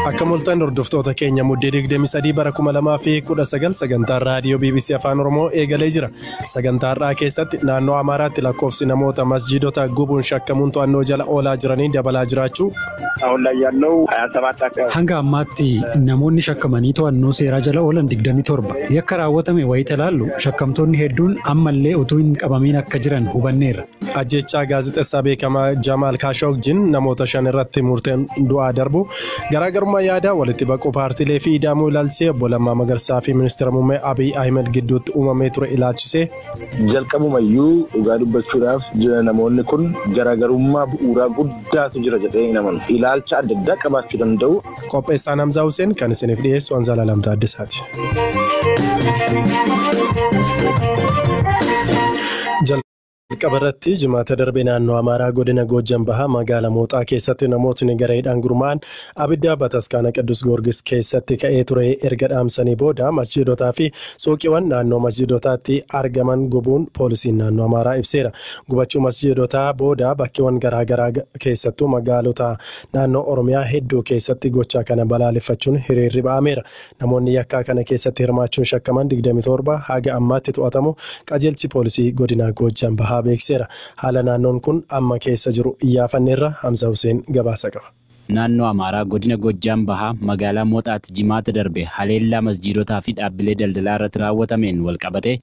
Akka mul'atan hordoftoota keenya muddee 23 bara 2019 sagantaan raadiyoo BBC Afaan Oromoo eegalee jira. Sagantaa har'aa keessatti naannoo Amaaraatti lakkoofsi namoota masjiidota gubuun shakkamuun to'annoo jala oolaa jiranii dabalaa jiraachuu. Hanga ammaatti namoonni shakkamanii to'annoo seeraa jala oolan 27 yakka raawwatame wayita ilaallu shakkamtoonni hedduun ammallee utuu hin qabamiin akka jiran hubanneerra. Ajjeechaa gaazexessaa beekamaa Jamaal Kaashogjin namoota shan irratti murteen du'aa darbu garaagarummaa yaadaa walitti baquu paartiilee fi ida'amuu ilaalchisee obbo Lammaa Magarsaa fi ministeera muummee Abiy Ahimad gidduutti uumamee ture ilaalchisee. Jalqabumayyuu dhugaa dubbachuudhaaf jira namoonni kun garaagarummaa bu'uuraa guddaatu jira jedhee hin amanu. Ilaalcha adda addaa qabaachuu danda'u. Qopheessaan Hamzaa Huseen kan isiniif dhiyeessu Anzaalaa Lamtaa Addisaati. Jalqaba irratti jimaata darbe naannoo Amaaraa godina Goojjam Bahaa magaala Mooxaa keessatti namootni gareedhaan gurmaa'an abidda bataskaana Qiddus Goorgis keessatti ka'ee ture erga dhaamsanii booda masjiidotaa fi suuqiiwwan naannoo masjiidotaatti argaman gubuun poolisiin naannoo Amaaraa ibseera. Gubachuu masjiidotaa booda bakkeewwan garaa garaa keessattuu magaalota naannoo Oromiyaa hedduu keessatti gochaa kana balaaleffachuun hiriirri ba'ameera. Namoonni yakkaa kana keessatti hirmaachuun shakkaman 27 haga ammaatti to'atamuu Qajeelchi Poolisii Godinaa Goojjam Bahaa beeksiseera. Haala naannoon kun amma keessa jiru Iyyaafanni irraa Hamza Huseen gabaasa qaba. Naannoo Amaaraa Godina Goojjam Bahaa magaalaa Moxaatti Jimaata darbe haleellaa masjiidotaa fi dhaabbilee daldalaa irratti raawwatameen walqabatee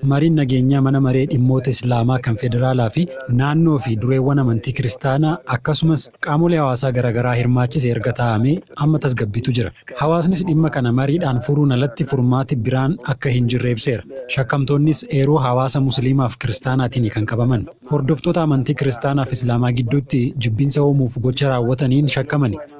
Mariin nageenyaa Mana Maree Dhimmoota Islaamaa kan Federaalaa fi Naannoo fi dureewwan amantii Kiristaanaa akkasumas qaamolee hawaasaa garagaraa hirmaachise erga taa'amee amma tasgabbiitu jira. Hawaasnis dhimma kana mariidhaan furuun alatti furmaati biraan akka hin jirre ibseera. Shakkamtoonnis eeruu hawaasa Musiliimaa fi Kiristaanaatiini kan qabaman. Hordoftoota amantii Kiristaanaa fi Islaamaa gidduutti jibbinsa uumuuf gocha raawwataniin shakkamani.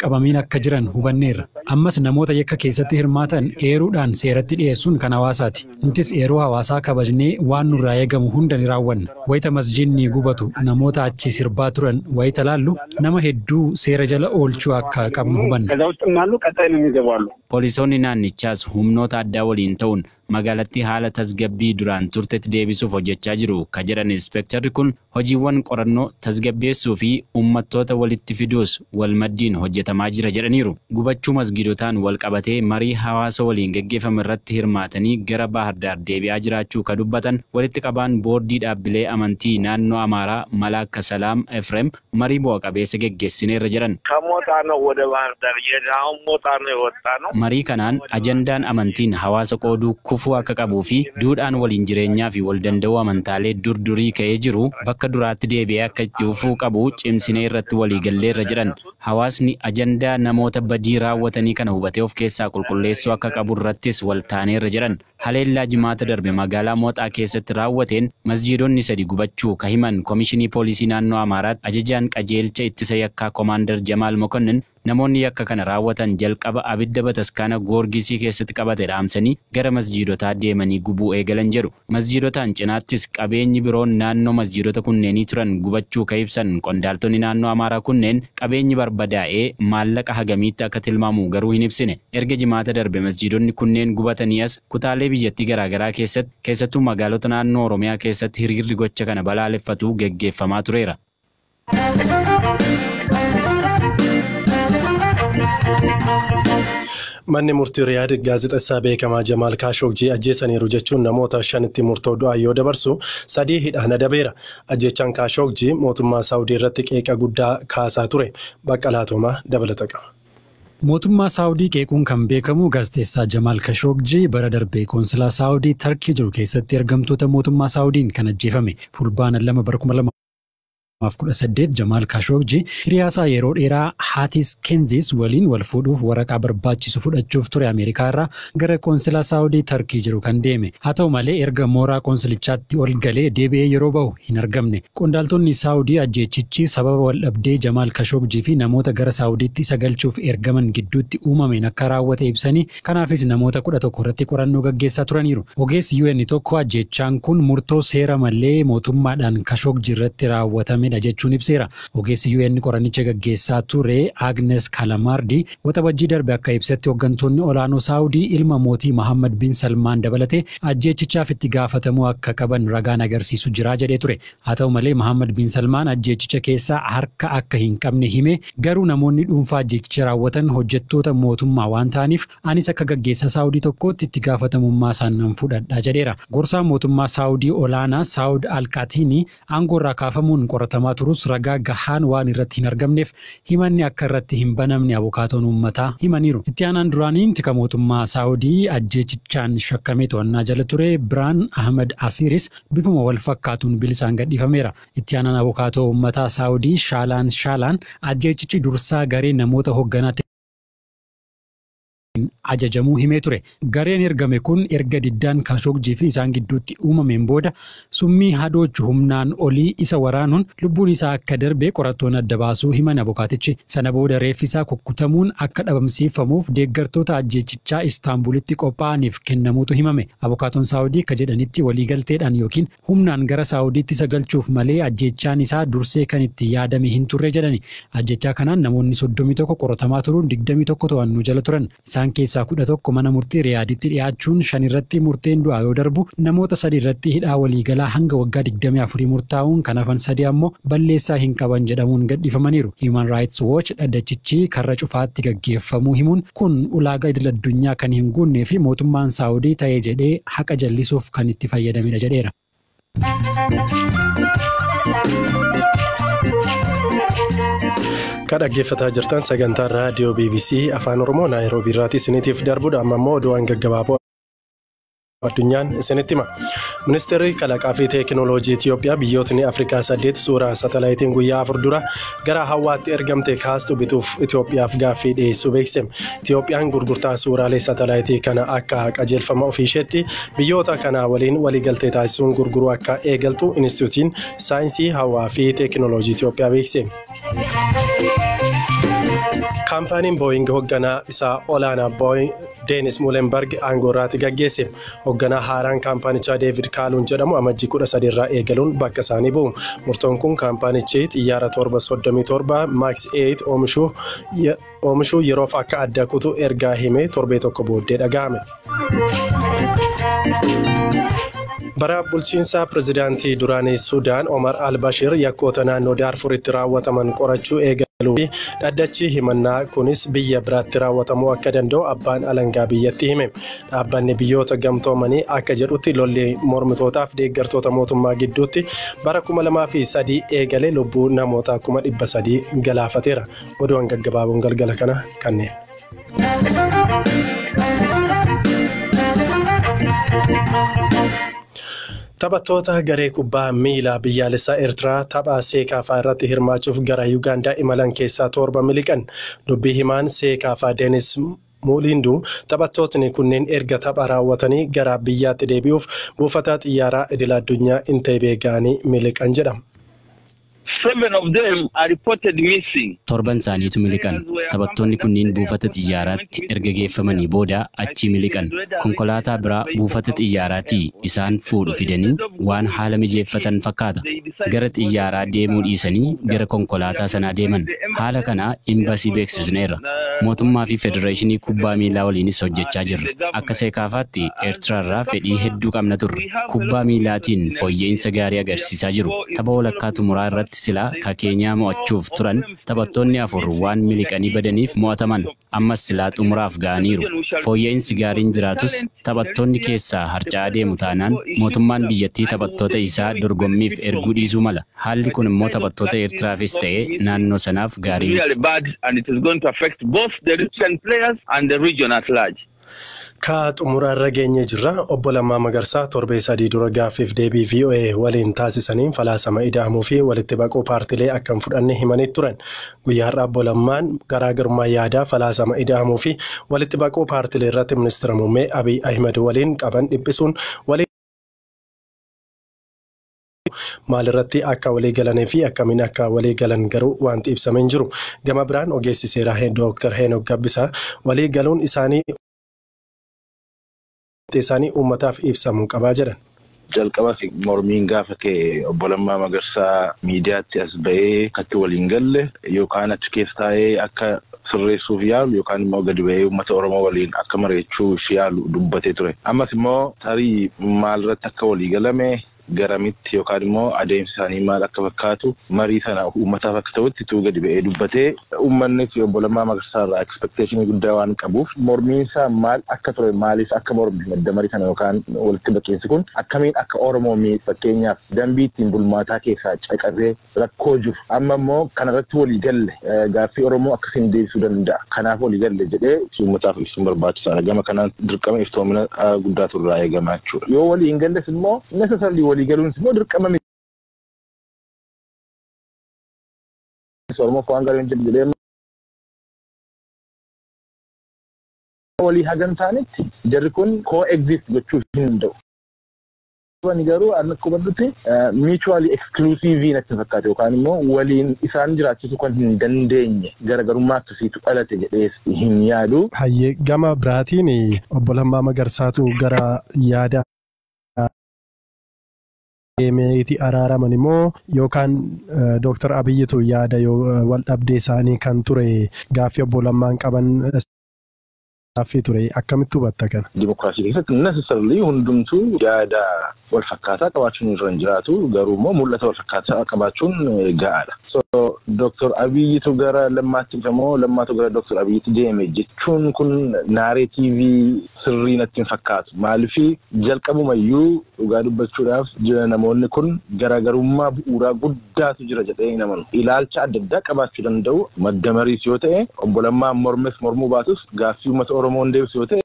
qabamiin akka jiran hubanneerra. Ammas namoota yakka keessatti hirmaatan eeruudhaan seeratti dhiyeessuun kan hawaasaati. Nutis eeruu hawaasaa kabajnee waan nurraa eegamu hunda ni raawwanna. Wayita masjiidni gubatu namoota achi sirbaa turan wayita laallu nama hedduu seera jala oolchuu akka qabnu hubanna. Poolisoonni naannichaas humnoota addaa waliin ta'uun magaalattii haala tasgabbii duraan turtetti deebisuuf hojjechaa jiru ka jedhan Inspeektarri kun, hojiiwwan qorannoo, tasgabbeessuu fi ummattoota walitti fiduus wal maddiin hojjetamaa jira jedhaniiru. Gubachuu masgiidotaan wal qabatee marii hawaasa waliin geggeeffame irratti hirmaatanii gara Baahir Daar deebi'aa jiraachuu ka dubbatan walitti qabaan Boordii Dhaabbilee Amantii Naannoo Amaaraa Malaakka Salaam Efrem, Marii bu'a qabeessa geggessineerra jedhan. Kamotaanoo wada Baahir Dar jedhe aun motaanoo yewottaanoo. Marii kanaan ajandaan amantiin hawaasa qooduu kufuu akka qabuu fi duudhaan waliin jireenyaa fi wal danda'uu amantaalee dur durii ka'ee jiru bakka duraatti deebi'ee akka itti fufuu qabu cimsinee irratti walii galleerra jedhan. Hawaasni ajandaa namoota badii raawwatanii kana hubatee of keessaa qulqulleessuu akka qabu irrattis wal taaneerra jedhan. Haleellaa Jimaata darbe magaalaa Moxaa keessatti raawwateen masjiidonni sadi gubachuu ka himan Komishinii Poolisii Naannoo Amaaraatti Ajajaan Qajeelcha Ittisa Yakkaa Komaandar Jamaal Mokonnin, namoonni yakka kana raawwatan jalqaba abidda bataskaana Goorgisii keessatti qabate dhaamsanii gara masjiidotaa deemanii gubuu eegalan jedhu. Masjiidotaan cinaattis qabeenyi biroon naannoo masjiidota kunneenii turan gubachuu ka ibsan qondaaltonni naannoo Amaaraa kunneen, qabeenyi barbadaa'e maallaqa hagamiitti akka tilmaamu garuu hin ibsine. Erga Jimaata darbe masjiidonni kunneen gubatanii as kutaalee biyyattii garaagaraa keessatti keessattuu magaalota naannoo Oromiyaa keessatti hiriirri gocha kana balaaleffatu geggeeffamaa tureera. Manni murtii Riyaad gaazexessaa beekamaa Jamaal Kaashoogjii ajjeesaniiru jechuun namoota shanitti murtoo du'aa yoo dabarsu sadii hidhaan adabeera. Ajjeechaan Kaashoogjii mootummaa Saawudii irratti qeeqa guddaa kaasaa ture. Baqqalaa Toomaa dabalata qaba. Mootummaa Saawudii qeequun kan beekamu Gaazexeessaa Jamaal Kashoogji bara darbe Qoonsilaa Saawudii Tarkii jiru keessatti ergamtoota mootummaa Saawudiin kan ajjeefame. Fulbaana 2 bara 2018 Jamaal Kashoogji hiriyaasaa yeroo dheeraa Haatiis Kenziis waliin wal fuudhuuf waraqaa barbaachisu fudhachuuf ture Ameerikaa irraa Gara Qoonsilaa Saawudii Tarkii jiru kan deeme. Haa ta'u malee erga mooraa qoonsilichaatti ol galee deebi'ee yeroo bahu hin argamne. Qondaaltonni Saawudii ajjeechichi sababa waldhabdee Jamaal Kashoogji fi namoota gara Saawudiitti isa galchuuf ergaman gidduutti uumameen akka raawwate ibsanii, kanaafis namoota 11 irratti qorannoo gaggeessaa turaniiru. Ogeessi UN tokko ajjeechaan kun murtoo seera malee mootummaadhaan Kashoogji irratti raawwatamedha jechuun ibseera. Ogeessi UN qorannicha gaggeessaa ture Agnes Kalamaardi Waxabajjii darbe akka ibsetti hoggantoonni olaanoo Saawudii ilma mootii Mahaammad Bin Salmaan dabalatee ajjeechichaaf itti gaafatamuu akka qaban ragaan agarsiisu jira jedhee ture. Haa ta'u malee Mahaammad Bin Salmaan ajjeechicha keessa harka akka hin qabne himee garuu namoonni dhuunfaa ajjeechicha raawwatan hojjettoota mootummaa waan ta'aniif anis akka gaggeessaa Saawudii tokkootti itti gaafatamummaasaa nan fudhadha jedheera. Gorsaa mootummaa Saawudii olaanaa Saawud Al-Qaatiinii aangoorraa kaafamuun qoratamaa turus ragaa gahaan waan irratti hin argamneef himanni akka irratti hin banamne abukaatoon uummataa himaniiru. Itti aanaan duraanii tika mootummaa Saawudii ajjeechichaan shakkamee to'annaa jala ture Birhaan Ahmad Asiiris bifuma wal fakkaatuun bilisaan gadhiifameera. Itti aanaan abukaatoo uummataa Saawudii Shaalaan Shaalaan ajjeechichi dursaa garee namoota hogganaa ajajamuu himee ture. Gareen ergame kun erga diddaan Kaashoogji fi isaan gidduutti uumameen booda summii hadoochu humnaan olii isa waraanuun lubbuun isaa akka darbe qorattoonni adda baasuu himan abokaatichi. Sana booda reeffi isaa kukkutamuun akka dhabamsiiffamuuf deeggartoota ajjeechichaa Istaanbuulitti qophaa'aniif kennamuutu himame. Abokaatoon Saawudii akka jedhanitti waliigalteedhaan ykn. Humnaan gara Saawudiitti isa galchuuf malee ajjeechaan isaa dursee kan itti yaadame hin turre jedhani. Ajjeechaa kanaan namoonni soddomii tokko qoratamaa turuun digdamii tokko to'annoo jala turan. Isaan keessaa kudha tokko mana murtii Riyaaditti dhiyaachuun shan irratti murteen du'aa yoo darbu, namoota sadii irratti hidhaa waliigalaa hanga waggaa digdamii afurii murtaa'uun kan hafan sadii ammoo balleessaa hin qaban jedhamuun gadhiifamaniiru. Human Rights Watch dhaddachichi karra cufaatti gaggeeffamuu himuun, Kun ulaaga idil addunyaa kan hin guunnee fi mootummaan Saawudii ta'ee jedhee haqa jallisuuf kan itti fayyadamedha jedheera. Ka dhaggeeffataa jirtan sagantaa raadiyoo BBC Afaan Oromoo Naayiroobii irraatii isiniitiif darbudha. Amma immoo oduuwwan gaggabaaboo. addunyaan isinitti hima. Ministeerri kalaqaa fi teekinooloojii Itiyoophiyaa biyyootni Afrikaa saddeet suuraa satalaayitiin guyyaa afur dura gara hawwaatti ergamte kaastu bituuf Itiyoophiyaaf gaaffii dhiyeessuu beeksise. Itiyoophiyaan gurgurtaa suuraalee satalaayitii kana akka qajeelfama ofii isheetti biyyoota kanaa waliin waliigaltee taasisuun gurguruu akka eegaltu Inistituutiin Saayinsii Hawaa fi Teekinooloojii Itiyoophiyaa beeksise. Kaampaaniin Booying hoogganaa isaa olaanaa Deenis Muulenbarg aangoo irraati gaggeesse. Hogganaa haaraan kaampaanichaa Deevid Kaaluun jedhamu amajjii 13 irraa eegaluun bakka isaanii bu'u. Murtoon kun kaampaanichi xiyyaara torba 37 Max 8 oomishuu ye- oomishuu yeroof akka adda kutu ergaa himee torbee tokko booddee dhaga'ame. Bara bulchiinsa pirezidaantii duraanii Sudaan Omar al-Bashir yakkoota naannoo Daarfuritti raawwataman qorachuu eegaluu fi Dhaddachi himannaa kunis biyya biraatti raawwatamuu akka danda'u abbaan alangaa biyyatti hime. Dhaabbanni biyyoota gamtoomanii akka jedhutti lolli mormitootaaf deeggartoota mootummaa gidduutti bara 2003 eegale lubbuu namoota 300,000 galaafateera. Oduuwwan gaggabaaboon galgala kana kanneen. Taphattoota garee kubbaa miilaa biyyaalessaa Eertiraa tapha Seekaafaa irratti hirmaachuuf gara Yuugaandaa imalan keessaa torba miliqan. Dubbii himaan Seekaafaa Deenis Muuliinduu taphattootni kunneen erga tapha raawwatanii gara biyyaatti deebi'uuf buufata xiyyaaraa idil addunyaa Inteebee ga'anii miliqan jedha. Seven of them are reported missing. Torban isaaniitu miliqan. Taphattoonni kunniin buufata xiyyaaraatti erga geeffamanii booda achii miliqan. Konkolaataa biraa buufata xiyyaaraatii isaan fuudhu fidanii waan haala mijeeffatan fakkaata. Gara xiyyaaraa deemuu dhiisanii gara konkolaataa sanaa deeman. Haala kana Imbasii beeksisneerra. Mootummaa fi Federeeshinii Kubbaa Miilaa waliinis hojjechaa jirra. Akka Seekaafaatti Eertiraarraa fedhii hedduu qabna turre. Kubbaa miilaatiin fooyya'iinsa gaarii agarsiisaa jiru. Tapha walakkaa xumuraa irratti silaa ka Keenyaa mo'achuuf turan taphattoonni afur waan miliqanii badaniif mo'ataman. Ammas silaa xumuraaf ga'aniiru. Fooyya'insi gaariin jiraatus taphattoonni keessaa harca'aa deemu taanaan mootummaan biyyattii taphattoota isaa dorgommiif erguu dhiisuu mala. Haalli kun immoo taphattoota Eertiraafis ta'ee naannoo sanaaf gaarii miti. Ka xumura irra geenyee jirra. Obbo Lammaa Magarsaa torbee sadii dura gaaffiif deebii VOA waliin taasisaniin falaasama ida'amuu fi walitti baquu paartilee akka hin fudhanne himanii turan. Guyyaa har'aa Obbo Lammaan garaagarummaa yaadaa falaasama ida'amuu fi walitti baquu paartilee irratti ministira muummee Abiy Ahimad waliin qaban dhiphisuun waliin maalirratti akka walii galanii fi akkamiin akka walii galan garuu wanti ibsame hin jiru. Gama biraan ogeessi seeraa Dooktar Heenok Gabbisaa walii galuun isaanii isaanii uummataaf ibsamuu qabaa jedhan. Jalqabas mormiin gaafa ka'e obbo Lammaa Magarsaa miidiyaatti as ba'ee akkatti waliin galle yookaan achi keessa taa'ee akka sirreessuuf yaalu yookaan immoo gadi ba'ee uummata Oromoo waliin akka mari'achuuf yaalu dubbatee ture. Ammas immoo tarii maalirratti akka walii galame garamitti yookaan immoo adeemsi isaanii maal akka fakkaatu marii sana uummataaf akka ta'utti utuu gadi ba'ee dubbatee uummannis obbo Lammaa Magarsaa irraa expectation guddaa waan qabuuf mormiin isaa maal akka ture maaliif akka morme madda marii sana yookaan walitti baqiinsi kun akkamiin akka Oromoo miidhu fakkeenyaaf dambii ittiin bulmaataa keessaa caqasee rakkoo jiru. Amma immoo kana irratti walii galle gaaffii Oromoo akkasiin deebisuu danda'a. Kanaaf walii galle jedhee itti uummataaf ibsuun barbaachisaadha. Gama kanaan dirqama iftoomina guddaatu irraa eegama jechuudha. Yoo walii hin galles immoo necessarily walii galuunis immoo dirqama miti. Oromoof waan gaarii hojjedhe jedhee walii hagan taanitti jarri kun co-exist gochuu hin danda'u. Ani garuu an akka hubadhutti mutually exclusive natti fakkaate yookaan immoo waliin isaan jiraachisuu kan hin dandeenye garagarummaa akkasiitu dhalate jedhee hin yaadu. Hayyee gama biraatiin obbo Lammaa Magarsaatu gara yaada deemeeti araaraman immoo yookaan Dooktar Abiyyitu yaada wal dhabdee isaanii kan ture gaaffii obbo Lammaan qaban gaaffii ture. Akkamitti hubatta kana? Dimokiraasii keessatti necessarily hundumtuu yaada wal fakkaataa qabaachuun irra hin jiraatu. Garuu immoo mul'ata wal fakkaataa qabaachuun ga'aadha. So Dooktor Abiyyitu gara Lammaatti dhufe moo Lammaatu gara Dooktor Abiyyitti deeme jechuun kun naareetiivii sirrii natti hin fakkaatu. Maaliif jalqabumayyuu dhugaa dubbachuudhaaf jira namoonni kun garaagarummaa bu'uuraa guddaa addaatu jira jedhee hin amanu. Ilaalcha adda addaa qabaachuu danda'u, madda mariis yoo ta'e, Obbo Lammaan mormes mormuu baatus gaaffii uummata Oromoo hin deebisu yoo ta'e,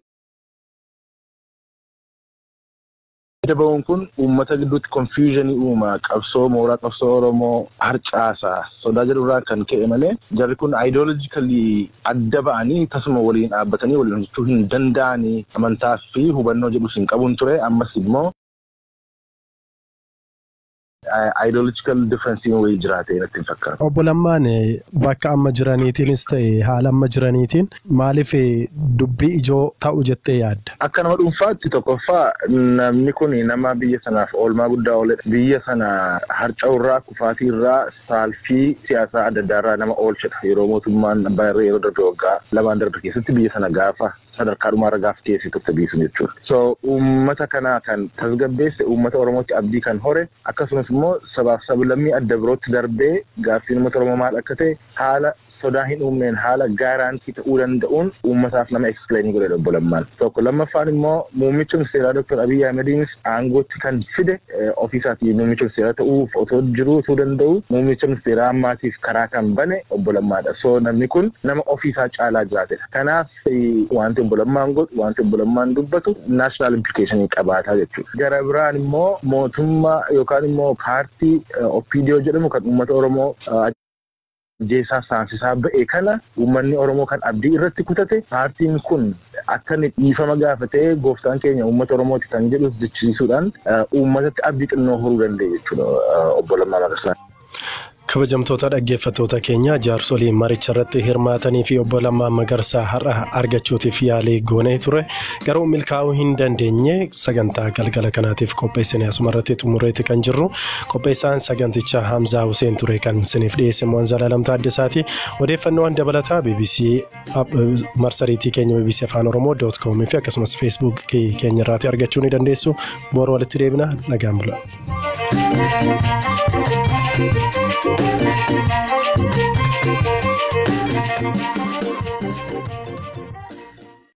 adda ba'uun kun uummata gidduutti confusion uuma, qabsoo mooraa qabsoo Oromoo harcaasa, sodaa jedhu irraan kan ka'e malee jarri kun ideologically adda ba'anii tasuma waliin dhaabbatanii waliin hojjechuu hin danda'ani amantaa fi hubannoo jedhus hin qabun ture ammas immoo Ideological difference'n wayii jiraate natti hin fakkaatu. Obbo Lammaan bakka amma jiraniitiinis ta'e haala amma jiraniitiin maaliif dubbii ijoo ta'u jettee yaadda? Akka nama dhuunfaatti tokkoffaa namni kun nama biyya sanaaf oolmaa guddaa ooledha. Biyya sana harca'uurraa, kufaatiirraa, saalfii siyaasaa adda addaarraa nama oolchedha. Yeroo mootummaan Abbaa Irree yeroo darbe waggaa lamaan darbe keessatti biyya sana gaafa sadarkaa dhumaarra gaafa geesse turte biiftuun jechuudha. So uummata kana kan tasgabbeesse, uummata Oromootti abdii kan hore, akkasumas immoo sabaaf sablammii adda birootti darbee gaaffiin uummata Oromoo maal akka ta'e haala sodaa hin uumneen, haala guarantee ta'uu danda'uun uummataaf nama explain godhedha Obbo Lammaan. Tokko. Lammaffaan immoo muummicha ministeeraa Dr. Abiy Ahimediinis aangootti kan fide ofiisaatii muummicha ministeeraa ta'uuf otoo jiruu utuu danda'uu muummicha ministeeraa ammaatiif karaa kan bane Obbo Lammaadha. So namni kun nama ofiisaa caalaa jiraatedha. Kanaaf. Wanti obbo Lammaan godhu, wanti obbo Lammaan dubbatu national implication qabaata jechuudha. Gara biraan immoo mootummaa yookaan immoo paartii OPDO jedhamu kan uummata Oromoo ajjeesaa saamsisaa ba'e kana uummanni Oromoo kan abdii irratti kutate paartiin kun akka inni dhiifama gaafatee gooftaan keenya uummata Oromooti kan jedhus jechisiisuudhaan uummatatti abdii xinnoo horuu danda'e jechuudha obbo Lammaa Magarsaa. Kabajamtoota dhaggeeffattoota keenya jaarsolii maricha irratti hirmaatanii fi obbo Lammaa Magarsaa har'a argachuutiif yaalii goonee ture garuu milkaa'uu hin dandeenye sagantaa galgala kanaatiif qopheessine asuma irratti xumureeti kan jirru qopheessaan saganticha Hamzaa Huseen ture kan isiniif dhiyeesse Mo'an Zalaalam Taaddasaati odeeffannoowwan dabalataa BBC marsariitii keenya bbc afaan oromoo doot koom fi akkasumas feesbuuk keenya irraati argachuu ni dandeessu boru walitti deebina nagaan bula.